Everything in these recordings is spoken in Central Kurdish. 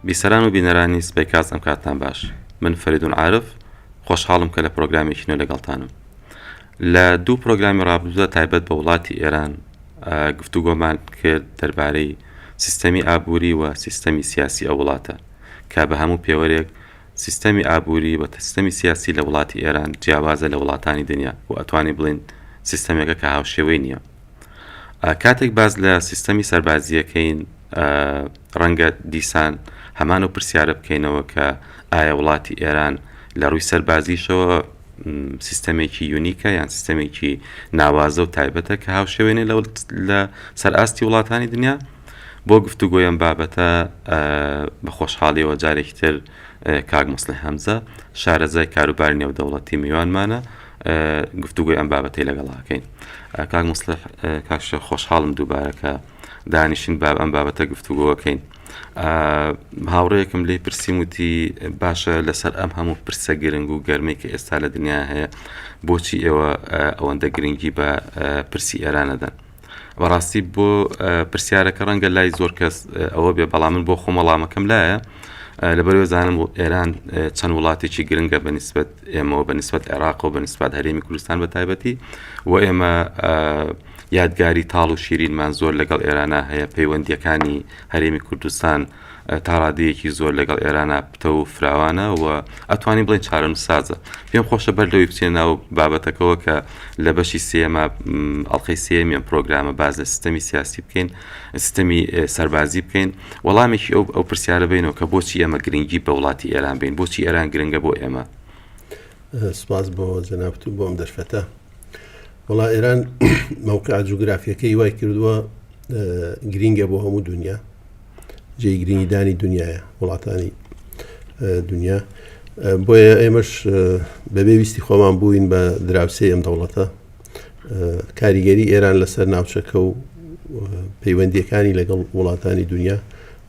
بیسەران و بینەرانی سپەی کاست ئەم کاتان باش من فەریدون عارف خۆشحاڵم کە لە پرۆگرامێکی نوێ لەگەڵتانم لە دوو پرۆگرامی ڕابردوودا تایبەت بە وڵاتی ئێران گفتوگۆمان کرد دەربارەی سیستەمی ئابووری و سیستەمی سیاسی ئەو وڵاتە کە بە هەموو پێوەرێک سیستەمی ئابووری و سیستەمی سیاسی لە وڵاتی ئێران جیاوازە لە وڵاتانی دنیا و ئەتوانی بڵین سیستەمێکە کە هاوشێوەی نییە کاتێک باس لە سیستەمی سەربازییە کەین ڕەنگە دیسان هەمان و پرسیارە بکەینەوە کە ئایا وڵاتی ئێران لە ڕووی سەربازیشەوە سیستەمێکی یونیکە یان سیستەمێکی ناوازە و تایبەتە کە هاوشێوێنێ لە سەر ئاستی وڵاتانی دنیا بۆ گفتوگۆیان بابەتە بە خۆشحاڵیەوە جارێکی تر کاک مسلح هەمزە شارەزای کاروباری نێودەوڵەتی میوانمانە گفتوگۆی ئەم بابەتەی لەگەڵا کەین کاک مستح کاکش خۆشحاڵم دووبارەکە دانیشین باب ئەم بابەتە گفتوگۆەکەین هاوڕەیەکم لی پرسییم وتی باشە لەسەر ئەم هەموو پرسە گرنگ و گەرمەی کە ئێستا لە دنیا هەیە بۆچی ئێوە ئەوەندە گرنگی بە پرسی ئێرانەدەن بەڕاستی بۆ پرسیارەکە ڕەنگە لای زۆر کەس ئەوە بێ بەڵام من بۆ خۆم وەڵامەکەم لایە لەبەرەوە زانم و ئێران چەند وڵاتێکی گرنگە بە نسبت ئێمەوە بە نسبت عێراق و بە نسبات هەرێمی کوردستان بە تایبەتی و ئێمە یادگاری تاڵ و شیرینمان زۆر لەگەڵ ئێرانە هەیە پەیوەندیەکانی هەرێمی کوردستان تا ڕادەیەکی زۆر لەگەڵ ئێرانا پتەو و فراوانە و ئەتوانین بڵێین چارەنووسسازە. پێم خۆشە بەر لەوەی بچینە ناو بابەتەکەوە کە لە بەشی سێیەما، ئەڵقەی سێیەمی ئەم پرۆگرامە باس لە سیستەمی سیاسی بکەین، سیستەمی سەربازی بکەین، وەڵامێکی ئەو ئەو پرسیارە بەینەوە کە بۆچی ئێمە گرنگی بە وڵاتی ئێران بەین؟ بۆچی ئێران گرنگە بۆ ئێمە؟ سپاس بۆ جەنابت و بۆ ئەم دەرفەتە. وەڵا ئێران مەوقع جوگرافیەکەی وای کردووە گرینگە بۆ هەموو دنیا. جێی گرنگی دانی دنیاە وڵاتانی دنیا بۆیە ئێمەش بەبێ ویستی خۆمان بووین بە دراوسێ ئەم دەوڵەتە کاریگەری ئێران لەسەر ناوچەکە و پەیوەندیەکانی لەگەڵ وڵاتانی دنیا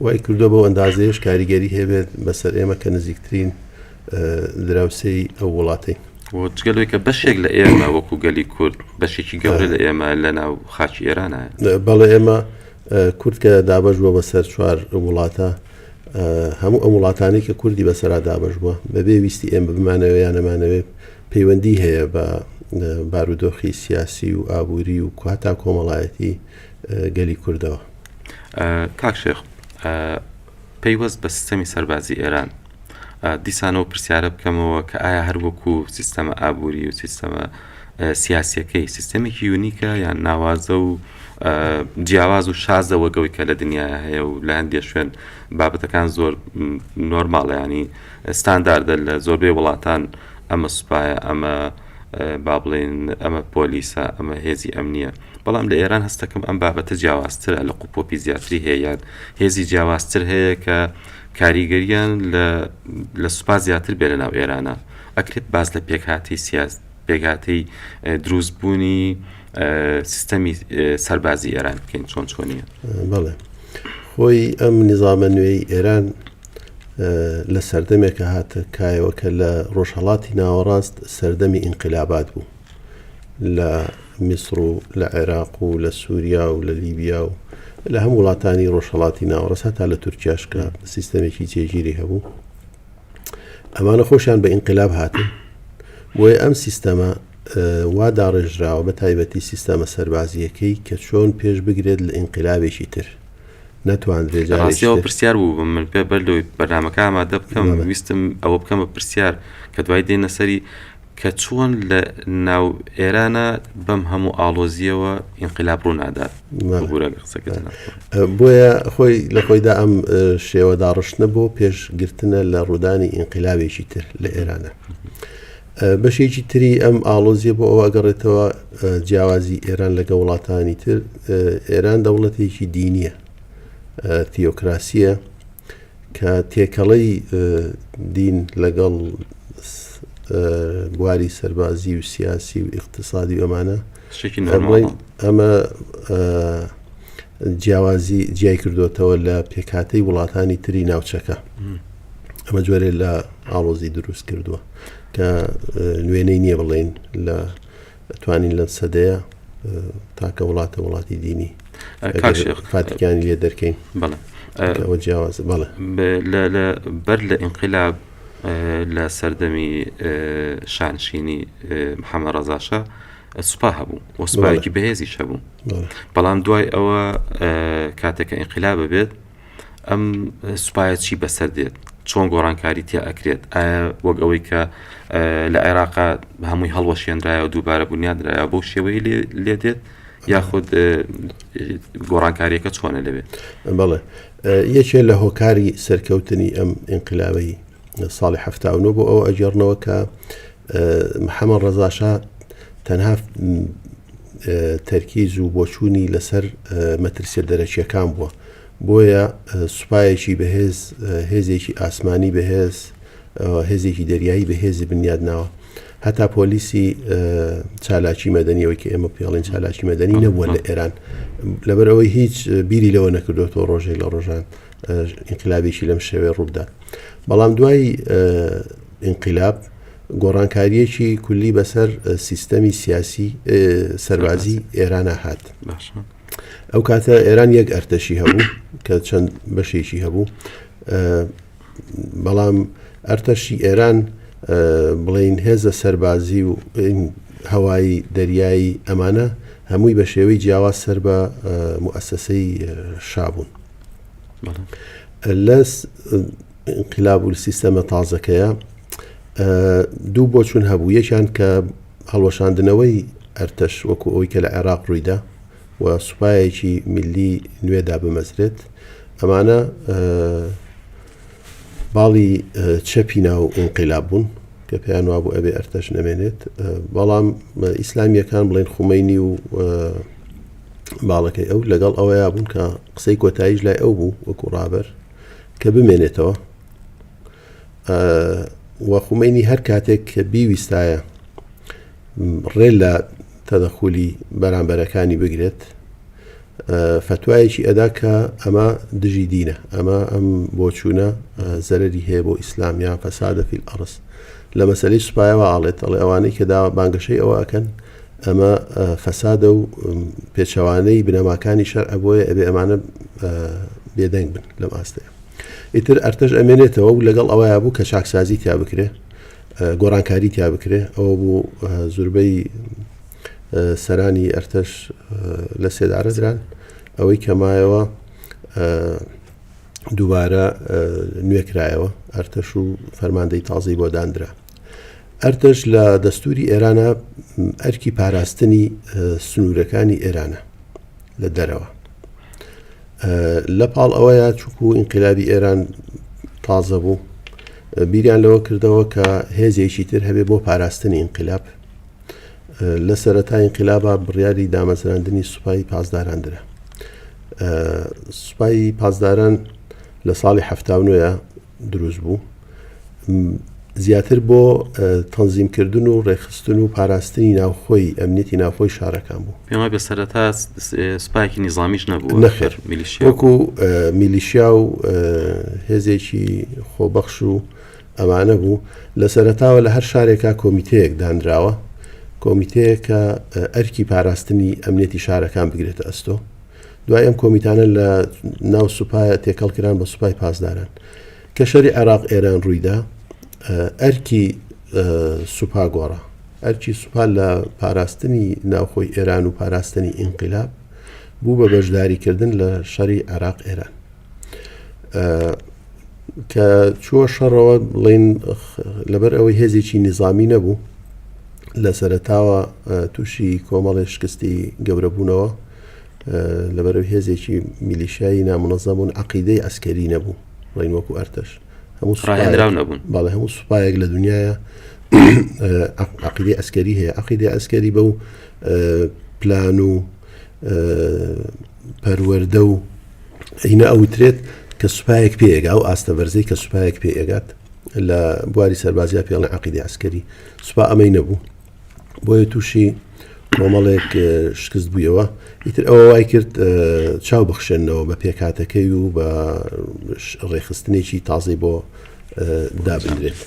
وای کردو بەو ئەندازەیەش کاریگەری هەبێت بەسەر ئێمە کە نزیکترین دراوسێی ئەو وڵاتی جگەلەوەی کە بەشێک لە ئێمە وەکو گەلی کورد بەشێکی گەورە لە ئێمە لە ناو خاچی ئێرانە بەڵێ ئێمە کورد کە دابەش بووە بەسەر چوار وڵاتە، هەموو ئەم وڵاتانەی کە کوردی بەسەرا دابەش بووە، بەبێ ویستی ئێمە بمانەوێ یان نەمانەوێ پەیوەندیی هەیە بە بارودۆخی سیاسی و ئابووری و هەتا کۆمەڵایەتیی گەلی کوردەوە. کاک شێخ، پەیوەست بە سیستەمی سەربازی ئێران، دیسان ئەو پرسیارە بکەمەوە کە ئایا هەر وەکو سیستەمە ئابووری و سیستەمە سیاسییەکەی، سیستەمێکی یونیکە یان ناوازە و جیاواز و شازە وەک ئەوەی کە لە دنیایا هەیە و لە هەندێ شوێن بابەتەکان زۆر نۆرماڵە یانی ستانداردە لە زۆربەی وڵاتان ئەمە سوپایە، ئەمە با بڵێین ئەمە پۆلیسە، ئەمە هێزی ئەمنییە. بەڵام لە ئێران هەستەکەم ئەم بابەتە جیاوازترە لە قوپۆپی زیاتری هەیە یان هێزی جیاوازتر هەیە کە کاریگەریان لە سوپا زیاتر بێ لە ناو ئێرانە ئەکرێت باز لە پێکهاتی سیاز پێگاتی دروست بوونی سیستەمی سەربازی ئێران بکەین چۆن چۆنیە بڵێ خۆی ئەم نظامە نوێی ئێران لە سەردەمێکە هاتە کایەوە کە لە ڕۆژهڵاتی ناوەڕاست سەردەمی ئینقلابات بوو لە میسر و لە عێراق و لە سووریا و لە لیبیا و لە هەموو وڵاتانی ڕۆژهەڵاتی ناوەڕاست هەتا لە تورکیاش کە سیستەمێکی جێگیری هەبوو ئەمانە خۆشیان بە ئینقلاب هاتن بۆیە ئەم سیستەمە وا داڕێژراوە بە تایبەتی سیستەمە سەربازیەکەی کە چۆن پێش بگرێت لە ئینقلابێکی تر نەتواندرێت جارەوە پرسیار بوو بم من پێ بەر لەوەی بەرنمەکە ئامادە بکەم ویستم ئەوە بکەم بە پرسیار کە دوای دێنە سەری کە چۆن لە ناو ئێرانا بەم هەموو ئاڵۆزیەوە ئینقلاب ڕوو نادات بگورە قسەکە بۆیە خۆی لە خۆیدا ئەم شێوە داڕشتنە بۆ پێشگرتنە لە ڕوودانی ئینقلابێکی تر لە ئێرانە بەشێکی تری ئەم ئاڵۆزیە بۆ ئەوە ئەگەڕێتەوە جیاوازی ئێران لەگە وڵاتانی تر ئێران دەوڵەتێکی دینیە تیۆکراسیە کە تێکەڵەی دین لەگەڵ بواری سەربازی و سیاسی و ئیقتصادی ئەمانە ئەمە جیاوازی جیای کردوێتەوە لە پێکاتەی وڵاتانی تری ناوچەکە ئەمە جۆرێ لە ئاڵۆزی دروست کردووە کە نوێنەی نییە بڵێن لە توانین لەم سەدەیە تاکە وڵاتە وڵاتی دینی فاتیکانی لێ دەرکەین بەڵێ جیاواز بەڵێ بەر لە ئینقلاب لە سەردەمی شانشینی محەممە ڕزاشە سوپا هەبوو وەسوپایەکی بەهێزی شەبوو بەڵام دوای ئەوە کاتێکە ئینقلابە بێت ئەم سوپایە چی بەسەر دێت چۆن گۆڕانکاری تیا ئەکرێت ئایا وەک ئەوەی کە لە عێراقا هەمووی هەڵوەشێنرایە و دووبارە بنیادرایە بۆ شێوەی لێ دێت یاخود گۆڕانکاریەکە چۆنە لەوێت بڵێ یەکێ لە هۆکاری سەرکەوتنی ئەم ئینقلاوی ساڵی حەفتا و نۆ بۆ ئەوە ئەگەڕنەوە کە محەممەد ڕەزاشا تەنها تەرکیز و بۆچوونی لەسەر مەترسیە دەرەکیەکان بووە بۆیە سوپایەکی بەهێز هێزێکی ئاسمانی بەهێز هێزێکی دەریایی بەهێزی بنیاد ناوە هەتا پۆلیسی چالاکی مەدەنیەوەی کە ئێمە پێڵین چالاکی مەدەنی نەبووە لە ئێران لەبەرەوەی هیچ بیری لەوە نەکردوەوە ڕۆژێک لە ڕۆژان ئینقلابێکی لەم شێوەیە ڕووبدات بەڵام دوای ئینقلاب گۆڕانکاریەکی کولی بەسەر سیستەمی سیاسی سەربازی ئێرانە هات ئەو کاتە ئێران یەک ئەرتەشی هەبوو کە چەند بەشێکی هەبوو بەڵام ئەرتەشی ئێران بڵین هێزە سەربازی و هەوایی دەریایی ئەمانە هەمووی بە شێوەی جیاواز سەر بە موئسسەی شابوون لەس ئینقلاب و سیستەمە تازەکەیە دوو بۆچون هەبوو یەکیان کە هەڵوەشاندنەوەی ئەرتەش وەکو ئەوی کە لە عێراق ڕوویدا و سوپایەکی میلی نوێدا بمەزرێت ئەمانە باڵی چەپی ناو ئینقلاب بوون کە پێیان وابوو ئەبێ ئەرتەش نەمێنێت بەڵام ئیسلامیەکان بڵێن خومەینی و باڵەکەی ئەو لەگەڵ ئەوەیە بوون کە قسەی کۆتاییش لای ئەو بوو وەکو ڕابەر کە بمێنێتەوە وەخمینی هەر کاتێک کە بیویستایە ڕێ لە تەدەخولی بەرامبەرەکانی بگرێت فتوایەکی ئەدا کە ئەمە دژی دینە ئەمە ئەم بۆچوونە زەرری هەیە بۆ ئیسلام یان فەسادە فیل ئەڕست لە مەسلەی سوپایەوە ئاڵێت ئەڵێ ئەوانەی کە داوا بانگەشەی ئەوە ئەکەن ئەمە فەسادە و پێچەوانەی بنەماکانی شەرعە بۆیە ئەبێ ئەمانە بێدەنگ بن لەم ئاستەیە ئیتر ئەرتەش ئەمێنێتەوە و لەگەڵ ئەوەیە بوو کە چاکسازی تیا بکرێ گۆڕانکاری تیا بکرێ ئەوە بوو زوربەی سەرانی ئەرتەش لە سێدارە دران ئەوەی کەمایەوە دووبارە نوێکرایەوە ئەرتەش و فەرماندەی تازەی بۆ دانرا ئەرتەش لە دەستووری ئێرانە ئەرکی پاراستنی سنوورەکانی ئێرانە لە دەرەوە لە پاڵ ئەوەیە چکو و ئینقلابی ئێران تازە بوو بیریان لەوە کردەوە کە هێزێکی تر هەبێ بۆ پاراستنی ئینقلاب لە سەرەتا ئینقلابا بڕیاری دامەزراندنی سوپایی پاسداران درا سوپایی پاسداران لە ساڵی هەفتاونوە دروست بوو زیاتر بۆ تەنزیم کردن و ڕێخستن و پاراستنی ناوخۆی ئەمنیەتی ناوخۆی شارەکان بوو پێما بە سەرەتا سپاکی نیزانامیش نەبوو نەخێر میلیشیاکو میلیشیا و هێزێکی خۆبەخش و ئەمانە بوو لە سەرتاوە لە هەر شارێکا کۆمیتەیەک دانراوە کۆمیتەیەکە ئەرکی پاراستنی ئەمنێتی شارەکان بگرێتە ئەستۆ دوای ئەم کۆمیتانە لە ناو سوپایە تێکەڵ کران بە سوپای پاسداران کە شەری عێراق ئێران ڕوویدا ئەرکی سوپا گۆڕا ئەرکی سوپا لە پاراستنی ناوخۆی ئێران و پاراستنی ئینقلاب بوو بە بەشداریکردن لە شەری عێراق ئێران کە چووە شەڕەوە بڵین لەبەر ئەوەی هێزێکی نظامی نەبوو لە سەرتاوە تووشی کۆمەڵی شکستی گەورەبوونەوە لەبەر هێزێکی میلیشایی نامنەزەبوون عقیدەی ئەسکەری نەبوو ڕین وەکو ئەرتەش هەموو سڕاهێنراو نەبوون باڵە هەموو سوپایەک لە دنیاە عقیدی ئەسکەری هەیە عقیدی ئەسکەری بە و پلان و پەروەردە و ئینە ئەوترێت کە سوپایەک پێگا و ئاستە بەرزەی کە سوپایەک پێگات لە بواری سەربازیا پێڵە عقیدی عسکەری سوپا ئەمەی نەبوو بۆیە تووشی کۆمەڵێک شکست بوویەوە ئیتر ئەوە وای کرد چاو بخشێنەوە بە پێکاتەکەی و بە ڕێخستنێکی تازەی بۆ دابنرێت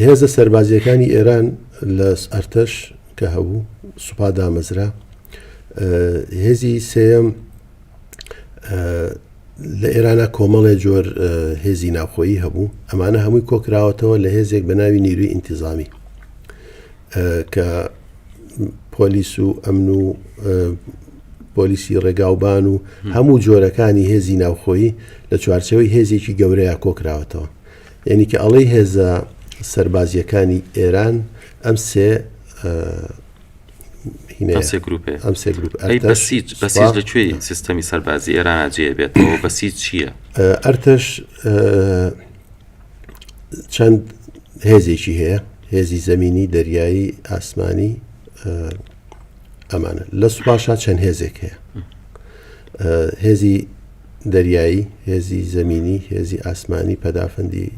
هێزە سەربازیەکانی ئێران لە ئەرتەش کە هەبوو سوپا دامەزرا هێزی سێم لە ئێرانە کۆمەڵێ جۆر هێزی ناوخۆیی هەبوو ئەمانە هەمووی کۆکراوەتەوە لە هێزێک بە ناوی نیروی ئینتیزامی کە پۆلیس و ئەمن و پۆلیسی ڕێگاوبان و هەموو جۆرەکانی هێزی ناوخۆیی لە چوارچەوەی هێزێکی گەورەیە کۆکراوەتەوە یەنی کە ئەڵێی هێزە سەربازیەکانی ئێران ئەم سێ ئەم سێ گروپ بەسیج بەسیج لە کوێی سیستەمی سەربازی ئێران جێ بێتەوە بەسیج چییە؟ ئەرتەش چەند هێزێکی هەیە هێزی زمینی دەریایی ئاسمانی ئەمانە لە سوپاشا چەند هێزێک هەیە هێزی دەریایی، هێزی زەمینی، هێزی ئاسمانی، پەدافەندی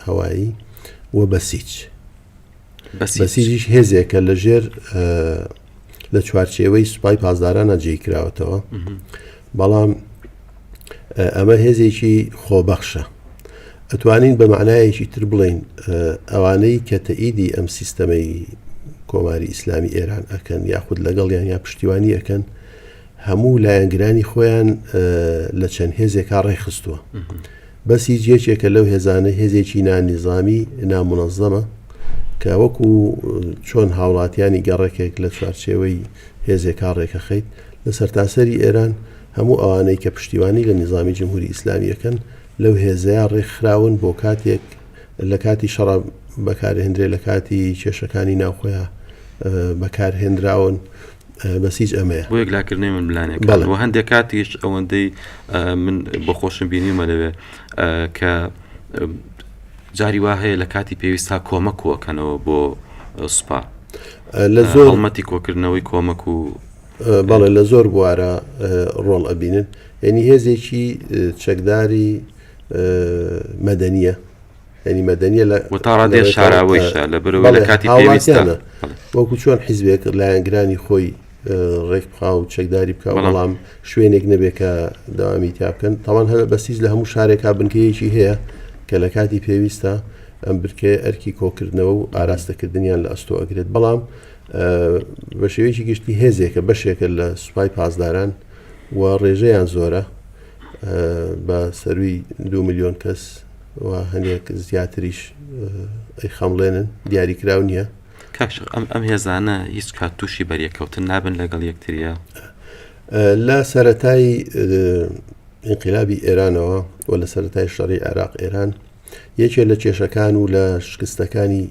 هەوایی و بەسیج. بەسیجیش هێزێکە لە ژێر لە چوارچێوەی سوپای پازدارانە جێی کراوەتەوە بەڵام ئەمە هێزێکی خۆبەخشە ئەتوانین بە معنایەکی تر بڵین ئەوانەی کە تەئیدی ئەم سیستەمەی کۆماری ئیسلامی ئێران ئەکەن یاخود لەگەڵیان یا پشتیوانی ئەەکەن هەموو لایەنگرانی خۆیان لە چەند هێزێکا ڕێکخستووە بەس هیچ یەکێکە لەو هێزانە هێزێکی نانیزامی نامونەزەمە کە وەکو چۆن هاوڵاتیانی گەڕێکێک لە چوارچێوەی هێزێکا ڕێکەخەیت لە سەرتاسەری ئێران هەموو ئەوانەی کە پشتیوانی لە نیزامی جمهوری ئیسلامیەکەن لەو هێزەیە ڕێکخراون بۆ کاتێک لە کاتی شەڕ بەکارهێنرێ لە کاتی کێشەکانی ناوخۆیان بەکارهێنراون بەس هیچ ئەمەیە بۆ یەکلاکردنەوەی ململانێکان بەڵێ. و هەندێک کاتیش ئەوەندەی ئە، من بۆ خۆشم بینیومە لەوێ ئە، کە ئە، جاری وا هەیە لە کاتی پێویست تا کۆمەک کۆکەنەوە بۆ ئە، سوپا لە زۆر هەڵمەتی کۆکردنەوەی کۆمەک و ئە، بەڵێ لە زۆر بوارە ئە، ڕۆڵ ئەبینن یانی هێزێکی ئە، چەکداری ئە، مەدەنییە. ینی مەدەنیە لە و تا ڕادێ شاراوەیشە لە بەرەوە لە کاتی پێویستانە وەکو چۆن حیزبێک لایەنگرانی خۆی ڕێکخا و چەکداری بکە بەڵام شوێنێک نەبێت کە داوامی تیا بکەن تاوان هەر بەسیز لە هەموو شارێکا بنکەیەکی هەیە کە لە کاتی پێویستە ئەم برکێ ئەرکی کۆکردنەوە و ئاراستەکردنیان لە ئەستۆ ئەگرێت بەڵام بە شێوەیەکی گشتی هێزێکە بەشێکە لە سوپای پاسداران و ڕێژەیان زۆرە بە سەروی دو میلیۆن کەس و هەندێک زیاتریش ئەیخەمڵێنن دیاری کراو نییە کاکشق ئەم ئەم هێزانە هیچ کات تووشی بەریەکەوتن نابن لەگەڵ یەکتریە لە سەتای انقلابی ئێرانەوە و لە سەتای شەڕی عێراق ئێران یەکێ لە کێشەکان و لە شکستەکانی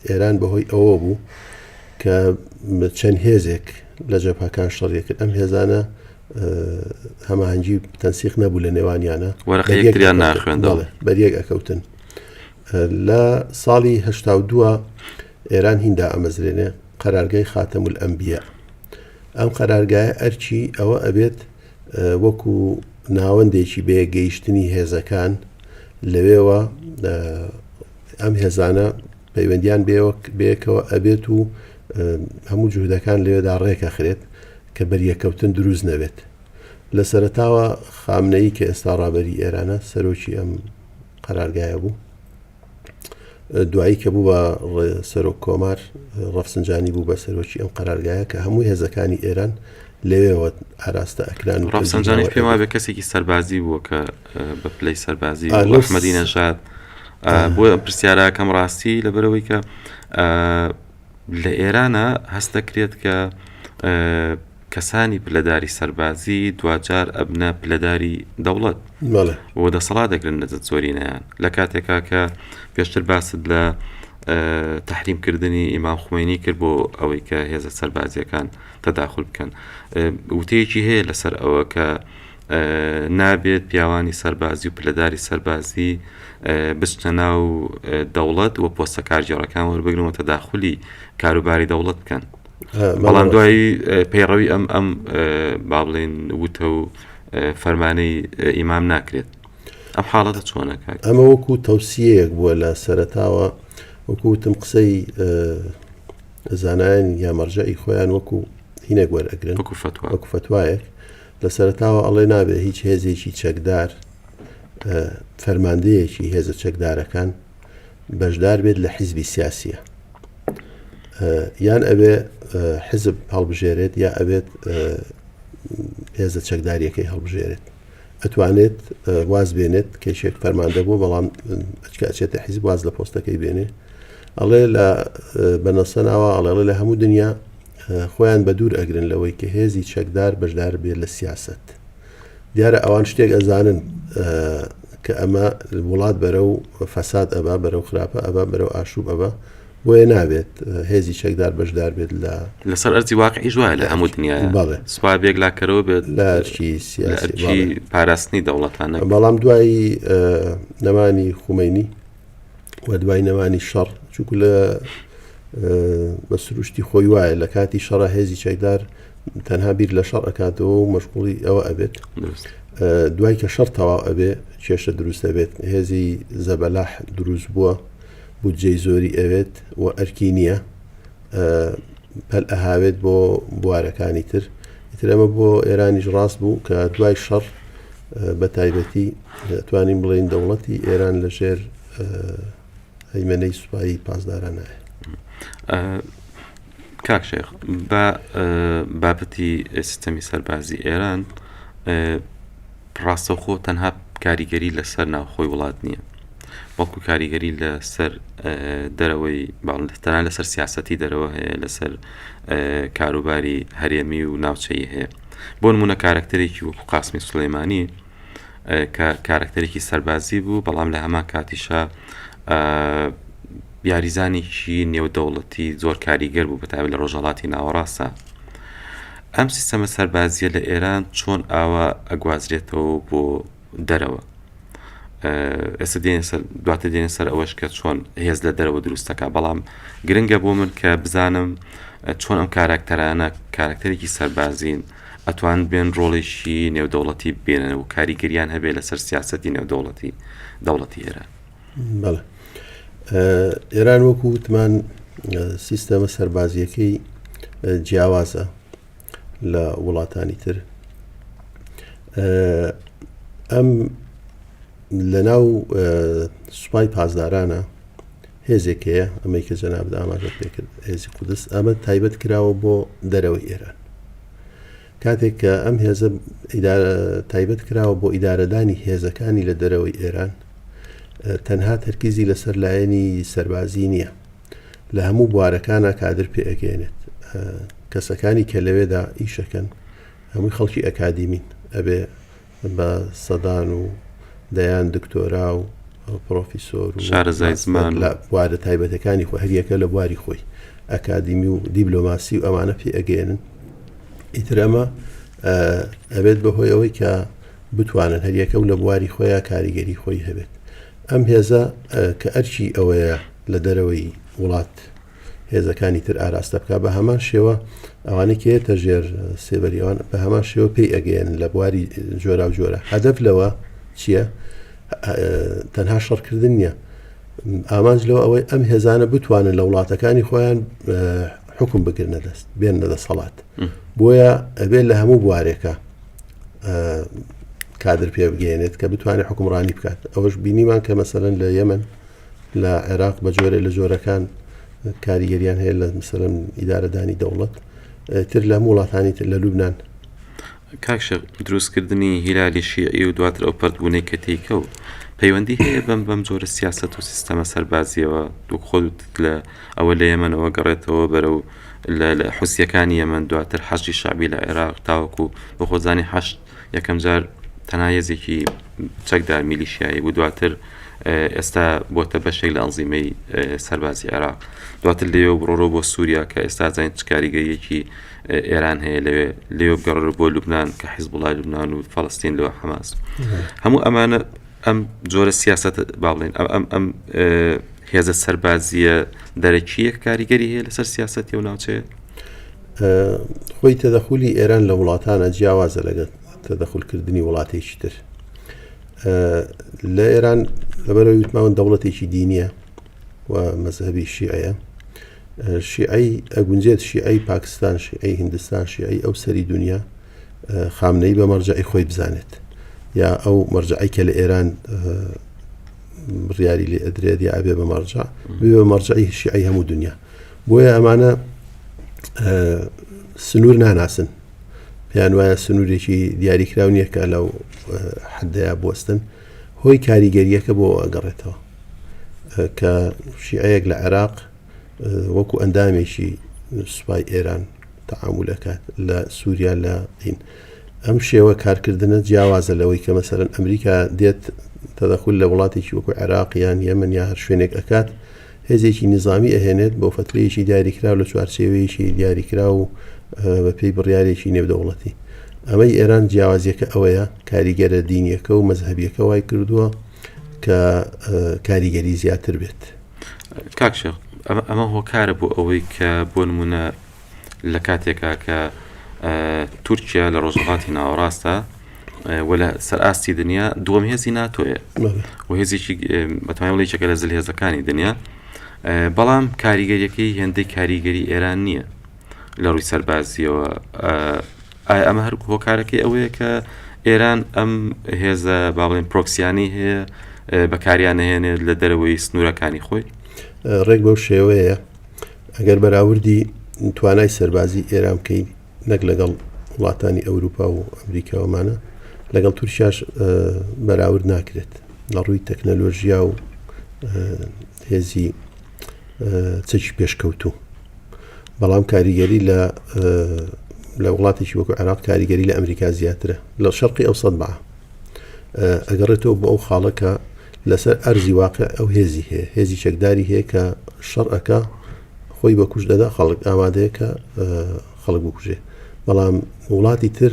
ئێران بەهۆی ئەوە بوو کە چەند هێزێک لە جەپەکان شەڕیەکرد ئەم هێزانە هەمانجی تەنسیق نەبوو لە نێوانیانە وەرەخەیەکتریان ناخوێندەڵێ بەریەک ئەکەوتن لە ساڵی هشتا دووە ئێران هیندا ئەمەزرێنێ قەرارگای خاتەم ئەمبیە ئەم قەرارگایە ئەرچی ئەوە ئەبێت وەکو ناوەندێکی بێ گەیشتنی هێزەکان لەوێوە ئەم هێزانە پەیوەندیان بەیەکەوە ئەبێت و هەموو جوهدەکان لەوێدا ڕێکەخرێت کە بەریەککەوتن دروست نەبێت. لە سەرەتاوە خامنەیی کە ئێستا ڕابەری ئێرانە سەرۆکی ئەم قەرارگایە بوو. دوایی کە بوو بە سەرۆک کۆمار ڕەفسنجانی بوو بە سەرۆکی ئەم قەرارگایە کە هەموو هێزەکانی ئێران لەوێوە ئاراستە ئەکران و ڕەفسنجانیش پێم وابێ کەسێکی سەربازی بووە کە بە پلەی سەربازی ئەحمەدی نەژاد بۆ پرسیاراکەم ڕاستی لەبەرەوەی کە لە ئێرانە هەستەکرێت کە کەسانی پلەداری سەربازی دوجار ئەبنە پلەداری دەوڵەت بۆ دەسەڵات دەگرن لە زۆرینەیان لە کاتێکا کە پێشتر باست لە تحریمکردنی ئیمام خوێنی کرد بۆ ئەوەی کە هێزە سەربازیەکان تەداخل بکەن وتەیەکی هەیە لەسەر ئەوە کە نابێت پیاوانی سەربازی و پلەداری سەربازی بچنە ناو دەوڵەت و پۆستە کارگێڕەکان وەربگرن و تەداخلی کاروباری دەوڵەت بکەن بەڵام دوایی پەیڕەوی ئەم ئەم با بڵێن وتە و فەرمانەی ئیمام ناکرێت ئەم حاڵەتە چۆنەکە ئەمە وەکو تەوسیەیەک بووە لە سەرتاوە وەکوتم قسەی زانایان یا مەرجەی خۆیان وەکو هینێک وەرەگرن وەکو فتوایەک لە سەرەتاوە ئەڵێ نابێ هیچ هێزێکی چەکدار فەرماندەیەکی هێزە چەکدارەکان بەشدار بێت لە حیزبی سیاسیە یان ئەوێ حزب هەڵبژێرێت یا ئەوێت هێزە چەکداریەکەی هەڵبژێرێت ئەتوانێت واز بێنێت کێشێک فەرماندە بوو بەڵام ئەچکچێتە حیزب واز لە پۆستەکەی بێنێ ئەڵێ لە بەنەسەناوە ئەڵێڵێ لە هەموو دنیا خۆیان بەدوور ئەگرن لەوەی کە هێزی چەکدار بەشدار بێت لە سیاسەت دیارە ئەوان شتێک ئەزانن کە ئەمە وڵات بەرە و فەساد ئەبا بەرە و خراپە ئەبا بەرە و ئاشوب ئەبا بۆیە نابێت هێزی چەکدار بەشدار بێت لە لەسەر ئەرزی واقعیش وایە لە هەموو دنیا بەڵێ سوپا بێک لاکەرەوە بێت لە ئەرکی سیاسی پاراستنی دەوڵەتانە بەڵام دوایی نەمانی خومەینی و دوای نەمانی شەڕ چونکو لە بە سروشتی خۆی وایە لە کاتی شەڕە هێزی چەکدار تەنها بیر لە شەڕ ئەکاتەوە و مەشغوڵی ئەوە ئەبێت دوای کە شەر تەواو ئەبێ کێشە دروست دەبێت هێزی زەبەلاح دروست بووە بودجەی زۆری ئەوێت و ئەرکی نییە پەل ئەهاوێت بۆ بوارەکانی تر ئیترەمە بۆ ئێرانیش ڕاست بوو کە دوای شەڕ بە تایبەتی ئەتوانین بڵێین دەوڵەتی ئێران لە ژێر هەیمەنەی سوپایی پاسدارانایە. کاک شێخ بە بابەتی سیستەمی سەربازی ئێران ڕاستەوخۆ تەنها کاریگەری لەسەر ناوخۆی وڵات نییە بەڵکو کاریگەری لەسەر دەرەوەی باڵتەنا لەسەر سیاستی دەرەوە هەیە لەسەر کاروباری هەرێمی و ناوچەی هەیە بۆ نمونە کارەکتەرێکی وەکو قاسمی سلەیمانی کە کارەکتەرێکی سەربازی بوو بەڵام لە هەمان کاتیشە یاریزانێکی نێودەوڵەتی زۆر کاریگەر بوو بەتاوی لە ڕۆژهڵاتی ناوەڕاستە ئەم سیستەمە سەربازیە لە ئێران چۆن ئاوا ئەگوازرێتەوە بۆ دەرەوە ئێستا دێنە سەر دواتە دێنە سەر ئەوەش کە چۆن هێز لە دەرەوە دروستەکە بەڵام گرنگە بۆ من کە بزانم چۆن ئەم کاراکتەرانە کارکتەرێکی سەربازین ئەتوان بێن ڕۆڵێکی نێودەوڵەتی بێنن و کاریگەریان هەبێت لەسەر سیاستی نێودەوڵەتی دەوڵەتی ئێران بەڵێ ئێران وەکو وتمان سیستەمە سەربازیەکەی جیاوازە لە وڵاتانی تر ئەم لە ناو سوپای پاسدارانە هێزێک هەیە ئەمەی کە جەناب ئاماژە پێکرد هێزی قودس ئەمە تایبەت کراوە بۆ دەرەوەی ئێران کاتێک کە ئەم هێزە تایبەت کراوە بۆ ئیدارەدانی هێزەکانی لە دەرەوەی ئێران تەنها تەرکیزی لەسەر لایەنی سەربازی نییە لە هەموو بوارەکانا کادر پێ ئەگەیەنێت کەسەکانی کە لەوێدا ئیشەکەن هەمووی خەڵکی ئەکادیمین ئەبێ بە سەدان و دەیان دکتۆرا و پرۆفیسۆر و شارەزای زمان لە بوارە تایبەتەکانی خۆ هەریەکە لە بواری خۆی ئەکادیمی و دیبلۆماسی و ئەمانە پێ ئەگەێنن ئیتر ئەمە ئەبێت بەهۆی ئەوەی کە بتوانن هەریەکە و لە بواری خۆیان کاریگەری خۆی هەبێت ئەم هێزە کە ئەرکی ئەوەیە لە دەرەوەی وڵات هێزەکانی تر ئاراستە بکە بە هەمان شێوە ئەوانەی کێتە ژێر سێبەریەوان بە هەمان شێوە پێی ئەگەیەن لە بواری جۆرا و جۆرە هەدەف لەوە چییە تەنها شەڕکردن نییە ئامانج لەوە ئەوەی ئەم هێزانە بتوانن لە وڵاتەکانی خۆیان حکم بگرنە دەست بێن لە دەسەڵات بۆیە ئەبێت لە هەموو بوارێکە کادر پێ بگەێنێت کە بتوانێت حکومڕانی بکات ئەوەش بینیمان کە مەسەرەن لە یەمن لە عێراق بە جۆرە لە جۆرەکان کاریگەریان هەیە لە مسەرم ئیدارەدانی دەوڵەت تر لە وڵاتانی تر لە لوبناان کاکشە دروستکردنی هیلالی شیعی و دواتر ئەو پردبوونەی کە تیکە و پەیوەندی هەیە بەم بەم جۆرە سیاست و سیستەمە سەربازیەوە دوو خۆت لە ئەوە لە یەمەەوە گەڕێتەوە بەرە و لە حوسیەکانی یەمەن دواتر حەشدی شەعبی لە عێراق تاوەکو بە خۆزانی حەشد یەکەم جار تەنها هێزێکی چەکدار میلیشیایی بوو دواتر ئێستا بۆتە بەشێک لە ئەنزیمەی سەربازی عێراق دواتر لێوە بڕۆرۆ بۆ سووریا کە ئێستا زانین چکاریگەریەکی ئێران هەیە لەوێ لێوە بگەڕۆ بۆ لوبناان کە حیز بڵای لوبناان و فەڵستین لەوە حماس هەموو ئەمانە ئەم جۆرە سیاسەتە با بڵێن ئەم ئەم ئەم هێزە سەربازیە دەرەکیەک کاریگەری هەیە لەسەر سیاسەتی و ناوچەیە خۆی تەدەخولی ئێران لە وڵاتانە جیاوازە لەگەت تەدەخولکردنی وڵاتێکی تر لە ئێران لەبەرەوەی وتماون دەوڵەتێکی دینیە و مەذهبی شیعەیە شیعی ئەگونجێت شیعی پاکستان شیعی هندستان شیعی ئەو سەری دنیا خامنەیی بە مەرجەعی خۆی بزانێت یا ئەو مەرجعی کە لە ئێران بڕیاری لێ ئەدرێت یا ئەبێ بە مەرجع بێ بە مەرجعی شیعی هەموو دنیا بۆیە ئەمانە سنوور ناناسن پێیان وایە سنوورێکی دیاریکرااو نییە کە لەو حدەیە بستن هۆی کاریگەریەکە بۆ ئەگەڕێتەوە کە شیعەیەک لە عێراق وەکو ئەندامێکی سوپای ئێران تەعامول ئەکات لە سووریا لە دین ئەم شێوە کارکردنە جیاوازە لەوەی کە مەسەرەن ئەمریکا دێت تەدەخول لە وڵاتێکی وەکو عێراق یان یەمن یا هەر شوێنێک ئەکات هێزێکی نظامی ئەهێنێت بۆ فترەیەکی دیاریکراو لە چوارچێوەیەکی دیاریکرا و بە پێی بڕیارێکی نێودەوڵەتی ئەمەی ئێران جیاوازیەکە ئەوەیە کاریگەرە دینیەکە و مەذهبیەکە وای کردووە کە کاریگەری زیاتر بێت. کاک شێخ ئەمە ئەمە هۆکارە بۆ ئەوەی کە بۆ نمونە لە کاتێکا کە تورکیا لە ڕۆژهڵاتی ناوەڕاستە و لە سەر ئاستی دنیا دووەم هێزی ناتۆیە و هێزێکی بەتوانڵی چەکە لە زل هێزەکانی دنیا بەڵام کاریگەریەکەی هێندەی کاریگەری ئێران نییە لە ڕووی سەربازیەوە ئایا ئەمە هەر هۆکارەکەی ئەوەیە کە ئێران ئەم هێزە باڵێن پرۆکسیانی هەیە بەکاریان نهێنێت لە دەرەوەی سنوورەکانی خۆی ڕێک بەو شێوەیە ئەگەر بەراوردی توانای سەربازی ئێران بکەین نەک لەگەڵ وڵاتانی ئەوروپا و ئەمریکاوەمانە لەگەڵ تورکیاش بەراورد ناکرێت لە ڕووی تەکنەلۆژیا و هێزی چەکی پێشکەوتوو بەڵام کاریگەری لە لە وڵاتێکی وەکو عێراق کاریگەری لە ئەمریکا زیاترە لە شەرقی ئەو سەد بە ئەگەڕێتەوە بۆ ئەو خاڵەکە لەسەر ئەرزی واقع ئەو هێزی هەیە هێزی چەکداری هەیە کە شەڕەکە خۆی بە کوش دەدا خەڵک ئامادەیە کە خەڵک بکوژێ بەڵام وڵاتی تر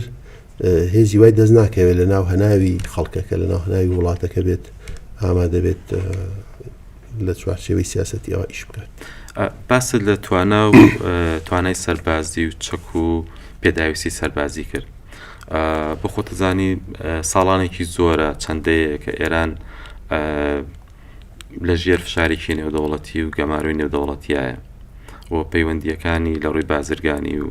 هێزی وای دەست ناکەوێت لە ناو هەناوی خەڵکەکە لە ناو هەناوی وڵاتەکە بێت ئامادە بێت لە چوارچێوەی سیاسەتی ئەوە ئیش بکات باست لە توانا و توانای سەربازی و چەک و پێداویستی سەربازی کرد بۆ خۆتەزانی ساڵانێکی زۆرە چەندەیە کە ئێران لە ژێر فشارێکی نێودەوڵەتی و گەمارۆی نێودەوڵەتیایە و پەیوەندیەکانی لە ڕووی بازرگانی و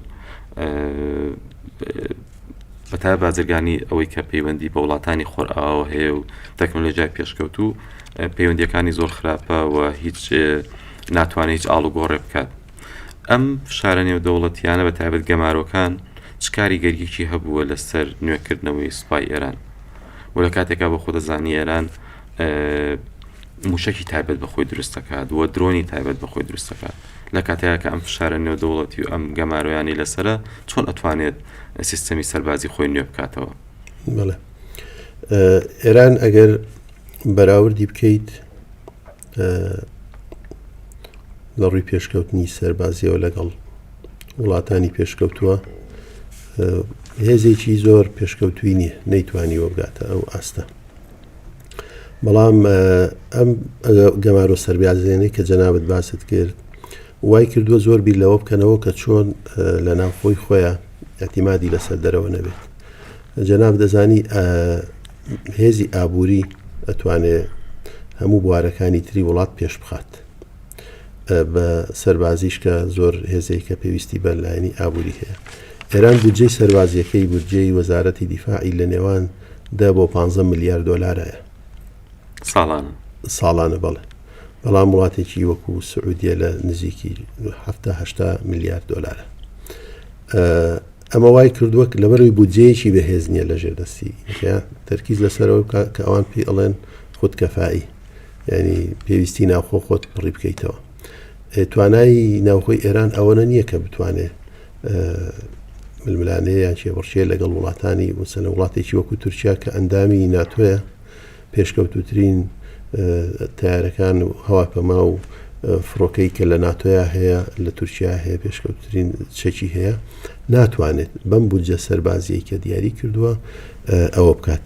بە تایبەت بازرگانی ئەوەی کە پەیوەندی بە وڵاتانی خۆرئاوا هەیە و تەکنۆلۆژیای پێشکەوتوو پەیوەندیەکانی زۆر خراپە و هیچ ناتوانێت هیچ ئاڵوگۆڕێ بکات ئەم فشارە نێودەوڵەتیانە بە تایبەت گەمارۆکان چ کاریگەریەکی هەبووە لەسەر نوێکردنەوەی سوپای ئێران و لە کاتێکا بە خۆدەزانی ئێران موشکی تایبەت بەخۆی دروستەکات و درۆنی تایبەت بەخۆی دروستەکات لە کاتێکا کە ئەم فشارە نێودەوڵەتی و ئەم گەمارۆیانەی لەسەرە، چۆن ئەتوانێت سیستەمی سەربازی خۆی نوێ بکاتەوە؟ بەڵێ. ئێران ئەگەر بەراوردی بکەیت لە ڕووی پێشکەوتنی سەربازیەوە لەگەڵ وڵاتانی پێشکەوتووە هێزێکی زۆر پێشکەوتوی نییە نەیتوانی وەبگاتە ئەو ئاستە بەڵام ئەم گەمارۆ سەربازیێنەی کە جەنابەت باست کرد وای کردووە زۆر بیر لەوە بکەنەوە کە چۆن لە ناوخۆی خۆیان ئەتیمادی لەسەر دەرەوە نەبێت جەناب دەزانی هێزی ئابووری ئەتوانێت هەموو بوارەکانی تری وڵات پێش بخات بە سەربازیش کە زۆر هێزەی کە پێویستی بە لایەنی ئابووری هەیە ئێران بودجەی سەربازیەکەی بودجەی وەزارەتی دیفاعی لە نێوان دە بۆ پانزە ملیار دۆلارە ساڵانە. ساڵانە بەڵێ. بەڵام وڵاتێکی وەکو سعودیە لە نزیکی هەفتا هەشتا ملیار دۆلارە. ئەمە وای کردووە کە لەبەرەوەی بودجەیەکی بەهێز نییە لە ژێر دەستی یا تەرکیز لەسەرەوە بکە کە ئەوان پێی ئەڵێن خود کەفایی یعنی پێویستی ناوخۆ خۆت پڕی بکەیتەوە. توانای ناوخۆی ئێران ئەوەنە نییە کە بتوانێت ململانێ یان کێبڕکێ لەگەڵ وڵاتانی وسەنە وڵاتێکی وەکو تورکیا کە ئەندامی ناتۆیە پێشکەوتوترین تارەکان و هەواپەما و فڕۆکەی کە لە ناتۆیا هەیە لە تورکیا هەیە پێشکەوتترین چەکی هەیە ناتوانێت بەم بودجە سەربازیە کە دیاری کردووە ئەوە بکات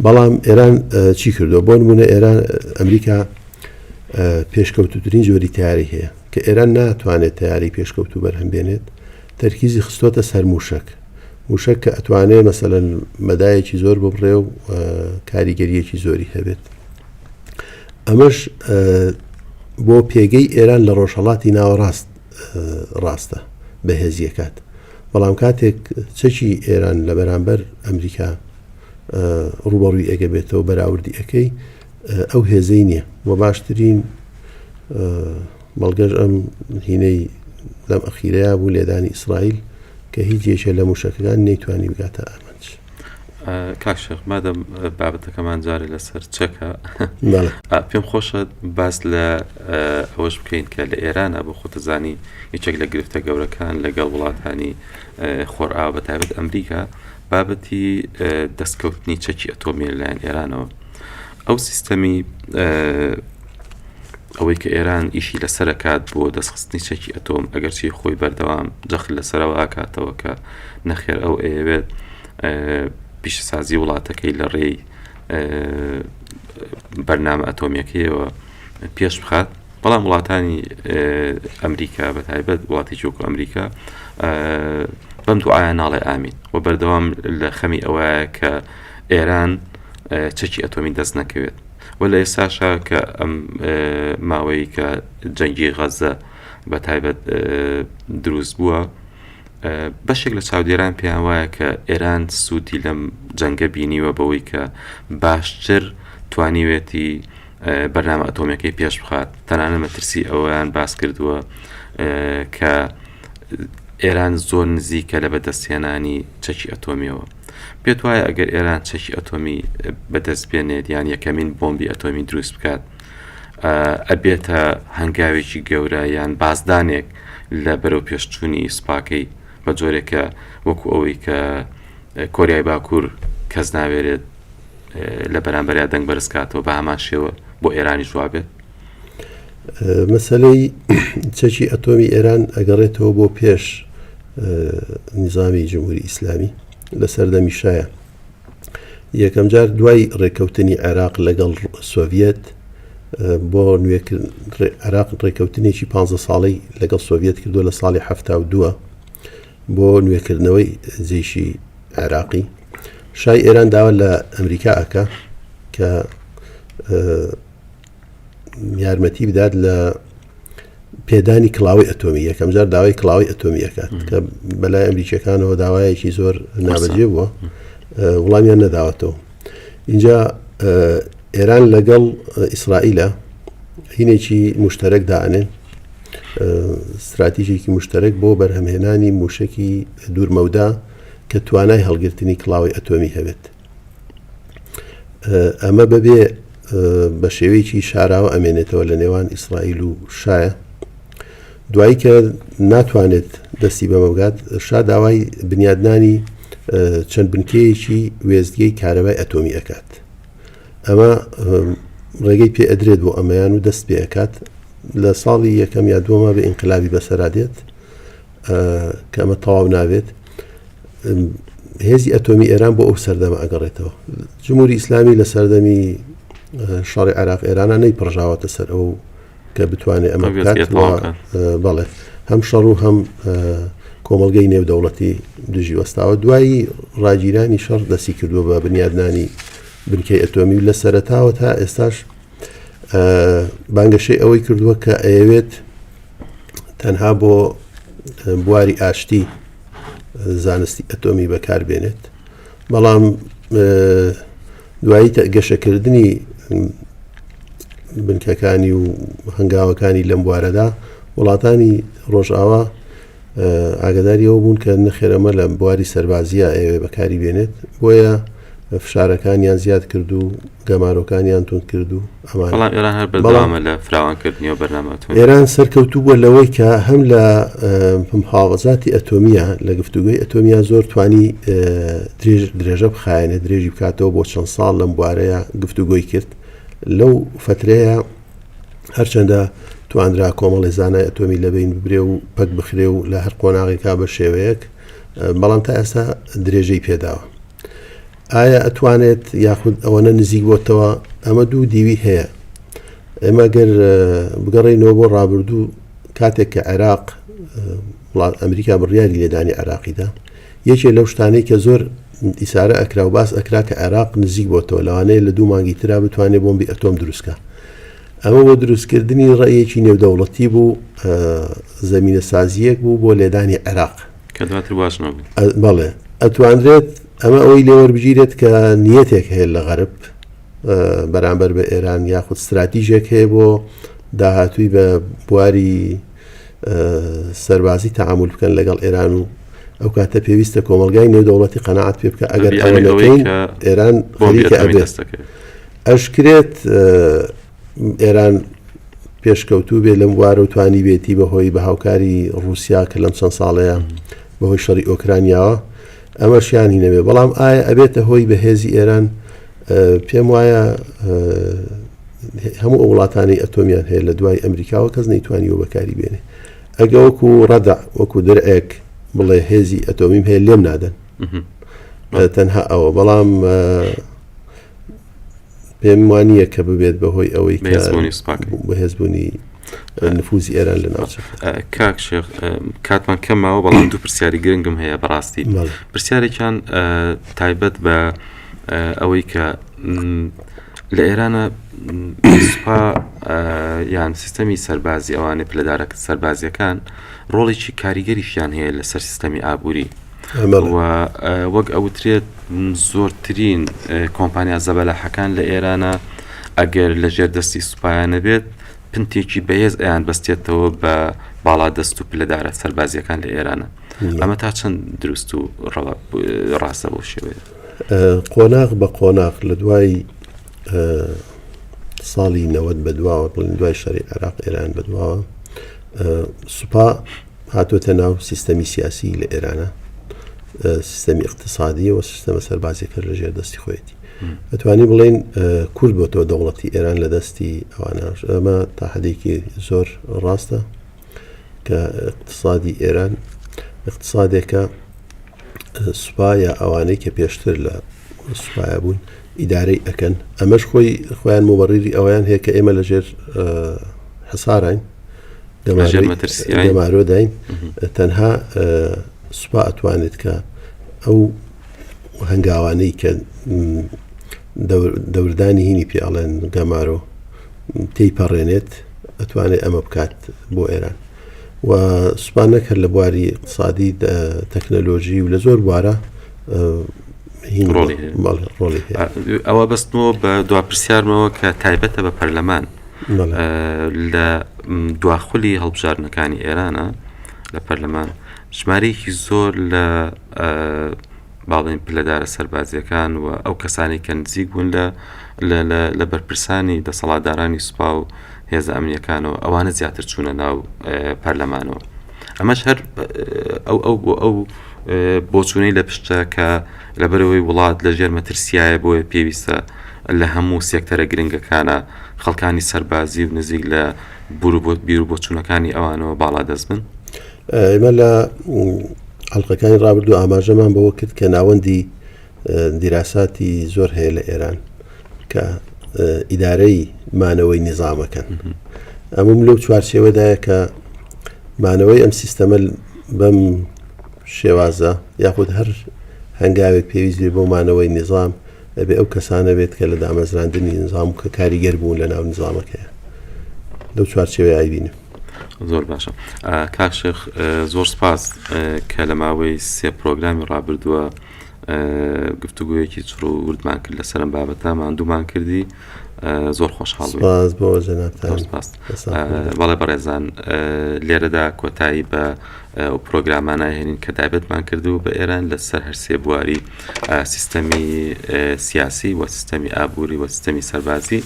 بەڵام ئێران چی کردووە بۆ نمونە ئێران ئەمریکا پێشکەوتترین جۆری تاری هەیە کە ئێران ناتوانێت تەیارەی پێشکەوتوو بەرهەم بێنێت تەرکیزی خستۆتە سەر مووشەک مووشەک کە ئەتوانێت مەسەلەن مەدایەکی زۆر ببڕێ و کاریگەریەکی زۆری هەبێت ئەمەش بۆ پێگەی ئێران لە ڕۆژهڵاتی ناوەڕاست ڕاستە بەهێزیەکات بەڵام کاتێک چەکی ئێران لە بەرامبەر ئەمریکا ڕوبەڕوی ئەگە بێتەوە بەراوردی ئەەکەی ئەو هێزەی نیە وە باشترین بەڵگەش ئەم هینەی لەم ئەخیرەیە بوو لێدانی ئیسرائیل کە هیچ یەکێ لە موشەکەکان نەیتوانی بگاتە ئامانج. کاکشێخ مادەم بابەتەکەمان جارێ لەسەر چەکە پێم خۆشە باس لە ئەوەش بکەین کە لە ئێرانە بۆ خۆتەزانی یەکێک لە گرفتە گەورەکان لەگەڵ وڵاتانی خۆرئاو بە تایبەت ئەمریکا بابەتی دەستکەوتنی چەکی ئەتۆمیە لەلایەن ئێرانەوە ئەو سیستەمی ئەوەی کە ئێران ئیشی لەسەرکات بۆ دەستخستنی چەکی ئەتۆم ئەگەرچی خۆی بەردەوام جەخت لەسەرەوە ئاکاتەوە کە نەخێر ئەو ئەیەوێت پیشسازی وڵاتەکەی لە ڕێی بەرنامە ئەتۆمیەکەیەوە پێش بخات بەڵام وڵاتانی ئەمریکا بە تایبەت وڵاتێکی وەکو ئەمریکا بەم دوعاە ناڵێ ئامین و بەردەوام لە خەمی ئەوەیە کە ئێران چەکی ئەتۆمی دەست نەکەوێت و لە ئێستاشا کە ئەم ماوەی کە جەنگی غەزە بە تایبەت دروست بووە بەشێک لە چاودێران پێیان وایە کە ئێران سوودی لەم جەنگە بینیوە بەوەی کە باشتر توانیوێتی بەرنامە ئەتۆمیەکەی پێش بخات تەنانە مەترسی ئەویان باس کردووە کە ئێران زۆر نزیکە لە بەدەستێنانی چەکی ئەتۆمیەوە پێت وایە ئەگەر ئێران چەکی ئەتۆمی بەدەست بێنێت یان یەکەمین بۆمبی ئەتۆمی دروست بکات ئەبێتە هەنگاوێکی گەورە یان بازدانێک لە بەرەو پێشچوونی سپاکەی بە جۆرێکە وەکو ئەوەی کە کۆریای باکوور کەس ناوێرێت لە بەرامبەریا دەنگ بەرزکاتەوە بە هەمان شێوە بۆ ئێرانی جوابێت مەسلەی چەکی ئەتۆمی ئێران ئەگەڕێتەوە بۆ پێش نظامی جمهوری ئیسلامی لە سەردەمی شایە یەکەم جار دوای ڕێککەوتنی عێراق لەگەڵ سۆڤەت بۆ نوێکرد عراق ڕێککەوتنێکی 15 ساڵی لەگەڵ سۆڤەت کردو لە ساڵی ه دووە بۆ نوێکردنەوەی جێشی عێراقی، شای ئێران داوا لە ئەمریکا ئەکا کە یارمەتی بدات لە پێدانی کڵاوی ئەتۆمی یەکەم جار داوای کڵاوی ئەتۆمی ئەکات کە بەلای ئەمریکیەکانەوە داوایەکی زۆر نابەجێ بووە وڵامیان نەداوەتەوە اینجا ئێران لەگەڵ ئیسرائیلە هینێکی مشتەرەک دانێ استراتیژێکی مشتەرەک بۆ بەرهەمهێنانی موشکی دوورمەودا کە توانای هەڵگرتنی کڵاوەی ئەتۆمی هەبێت. ئەمە بەبێ بە شێوەیەکی شاراوە ئەمێنێتەوە لە نێوان ئیسرائیل و شایە دوایی کە ناتوانێت دەستی بەمە بگات شا داوای بنیادنانی چەند بنکەیەکی وێستگەی کارەبای ئەتۆمی ئەکات ئەمە ڕێگەی پێ ئەدرێت بۆ ئەمەیان و دەست پێ ئەکات لە ساڵی یەکەم یا دووەمە بە ئینقلابی بەسەرا دێت کە ئەمە تەواو نابێت هێزی ئەتۆمی ئێران بۆ ئەو سەردەمە ئەگەڕێتەوە جمهوری ئیسلامی لە سەردەمی شەڕی عراق ئێرانە نەی پڕژاوەتە سەر ئەو کە بتوانێت ئەمە بەڵێ هەم شەڕ و هەم کۆمەلگەی نێودەوڵەتی دژی وەستاوە دوایی ڕاگیرانی شەڕ دەستی کردووە بە بنیادنانی بنکەی ئەتۆمی و لە سەرتاوە تا ئێستاش بانگەشەی ئەوەی کردووە کە ئەیەوێت تەنها بۆ بواری ئاشتی زانستی ئەتۆمی بەکاربێنێت بەڵام دوایی گەشەکردنی بنکەکانی و هەنگاوەکانی لەم بوارەدا وڵاتانی ڕۆژئاوا ئاگەداری ئەوە بوون کە نەخێر ئەمە لە بواری سەربازییە ئەیەوێ بەکاری بێنێت بۆیە فشارەکانیان زیاد کرد و گەمارۆکانیان تون کرد و ئێران سەرکەوتوو بووە لەوەی کە هەم لە پمحاوەزاتی ئەتۆمیە لە گفتوگوی ئەتۆمیا زۆر توانی درێژ درێژە بخایەنە درێژی بکاتەوە بۆ چەند ساڵ لەم بوارەیە گفتوگۆی کرد لەو فترەیە هەرچەندە توانرا کۆمەڵی زانای ئەتۆمی لەبین ببرێ و پەک بخرێ و لە هەر قۆناغێکا بە شێوەیەک بەڵام تا ئێستا درێژەی پێداوە ئایا ئەتوانێت یاخود ئەوەنە نزیک بۆتەوە ئەمە دوو دیوی هەیە ئێمە گەر بگەڕینەوە بۆ ڕابردوو کاتێک کە عێراق ئەمریکا بڕیاری لێدانی عراقیدا یەکێ لەو شتانەی کە زۆر ئیسارە ئەکرا و باس ئەکرا کە عێراق نزیک بۆتەوە لەوانەیە لە دوو مانگی ترا بتوانێ بۆمبی ئەتۆم دروست کا. ئەمە بۆ دروستکردنی ڕێیەکی نێودەوڵەتی بوو زەمینە سازیەک بوو بۆ لێدانی عێراق کە دواتر واش نەبوو. ئە- بەڵێ ئەتوانرێت ئەمە ئەوەی لێوەربگیرێت کە نیەتێک هەیە لە غەرب ئە، بەرامبەر بە ئێران یاخود ستراتیژێک هەیە بۆ داهاتووی بە بواری سەربازی تەعامول بکەن لەگەڵ ئێران و ئەو کاتە پێویستە کۆمەلگای نێودەوڵەتی قەنەعات پێ بکە ئەگەر ئەوە نەکەین ئێران بۆمیکە ئەبێستەکەی ئەشکرێت ئێران پێشکەوتوو بێ لەم وارە و توانی بێتی بەهۆی بە هاوکاری رووسیا کە لەم چەند ساڵەیە بەهۆی شەڕی ئۆکرانیاوە ئەمە شیانی نەبێ بەڵام ئایا ئەبێتە هۆی بە هێزی ئێران پێم وایە هەموو ئەو وڵاتانی ئەتۆمیان هەیە لە دوای ئەمریکاوە کەس نەیتوانیەوە بەکاری بێنێ ئەگە وەکو ڕەدا وەکو درعێک بڵێ هێزی ئەتۆمیم هەیە لێم نادەن تەنها ئەوە بەڵام پێم وانە کە ببێت بەهۆی ئەوەی بەهێزبوونی نفوزی ئێران لە ناوچ کاک شێخ کاتمان کەمەوە بەڵام دوو پرسیاری گرنگم هەیە بەڕاستی پرسیارێکیان تایبەت بە ئەوەی کە لە ئێرانە سوپا یان سیستەمی سەربازی ئەوانێ پلەدارە سەربازیەکان ڕۆڵێکی کاریگەریشیان هەیە لەسەر سیستەمی ئابووری و وەک ئەوترێت زۆرترین کۆمپانیا زەبەلاحەکان لە ئێرانە ئەگەر لە ژێر دەستی سوپایانە بێت پنتێکی بەهێز ئەیان بەستێتەوە بە باڵا دەست و پلەدارە سەربازیەکان لە ئێرانە ئەمە تا چەند دروست و ڕاستە بۆ شێوەیە قۆناغ بە قۆناغ لە دوای ساڵی نەوەت بە دواوە بڵین دوای شەری عێراق ئێران بە دواوە سوپا هاتۆتە ناو سیستەمی سیاسی لە ئێرانە سیستەمی اقتصادیە و سیستەمە سەربازیەکە لە ژێر دەستی خۆیەتی ئەتوانی بڵین کورد بۆ تۆ دەوڵەتی ئێران لە دەستی ئەواناش ئەمە تا حدێکی زۆر ڕاستە کە اقتصادی ئێران اقتصادێکە سوپا یا ئەوانەی کە پێشتر لە سوپایا بوون ئیدارەی ئەکەن ئەمەش خۆی خۆیان مۆبەڕیری ئەویان هەیە کە ئێمە لەژێر حساراین دەمارۆداین تەنها سوپا ئەتوانێت کە ئەو هەنگاوانەی کە دەوردانی هینی پیاڵێن گەمارۆ تێی پەڕێنێت ئەتوانێت ئەمە بکات بۆ ئێران و سوپا نەک هەر لە بواری ئیقتسادی تەکنەلۆژی و لە زۆر بوارە ڕۆڵی ئەوە بەستمەوە بە دوا پرسیارمەوە کە تایبەتە بە پەرلەمان لە دواخلی هەڵبژاردنەکانی ئێرانە لە پەرلەمان ژمارەیەکی زۆر لە با بڵێین پلەدارە سەربازییەکان و ئەو کەسانەی کە نزیک بوون لە لە بەرپرسانی دەسەڵاتدارانی سوپا و هێزە ئەمنیەکانەوە ئەوانە زیاتر چوونە ناو پەرلەمانەوە ئەمەش هەر ئەو ئەو بۆ ئەو بۆچوونەی لە پشتە کە لەبەرەوەی وڵات لە ژێر مەترسیایە بۆیە پێویستە لە هەموو سێکتەرە گرنگەکانە خەڵکانی سەربازی و نزیک لە بروبوت بیر و بۆچوونەکانی ئەوانەوە باڵا دەست بن ئێمە لە ئەڵلقەکانی ڕابردوو ئاماژەمان بەوە کرد کە ناوەندی دیراساتی زۆر هەیە لە ئێران کە ئیدارەی مانەوەی نیزامەکەن ئەمم لەو چوارچێوەدایە کە مانەوەی ئەم سیستەمە بەم شێوازە یاخود هەر هەنگاوێک پێویست بێ بۆ مانەوەی نیزام ئەبێ ئەو کەسانە بێت کە لە دامەزراندنی نظام کە کاریگەر بوون لە ناو نظامەکەیە لەو چوارچێوەیە ئایبینم زۆر باشە کاک شێخ زۆر سپاس کە لە ماوەی سێ پرۆگرامی ڕابردووە گفتوگویەکی چڕ و وردمان کرد لەسەرم بابەتە ماندوومان کردی زۆر خۆشحاڵ بەڵێ بەڕێزان لێرەدا کۆتایی بە ئەو پرۆگرامانە هێنین کە دابێتمان کردو بە ئێران لەسەر هەرسێ بواری سیستەمی سیاسی و سیستەمی ئابووری و سیستەمی سەربازی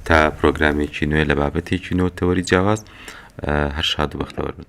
تا پرۆگرامێکی نوێ لە بابەتێکی نۆ تەوەری جیاواز هەر شاد و بەختەوەر بن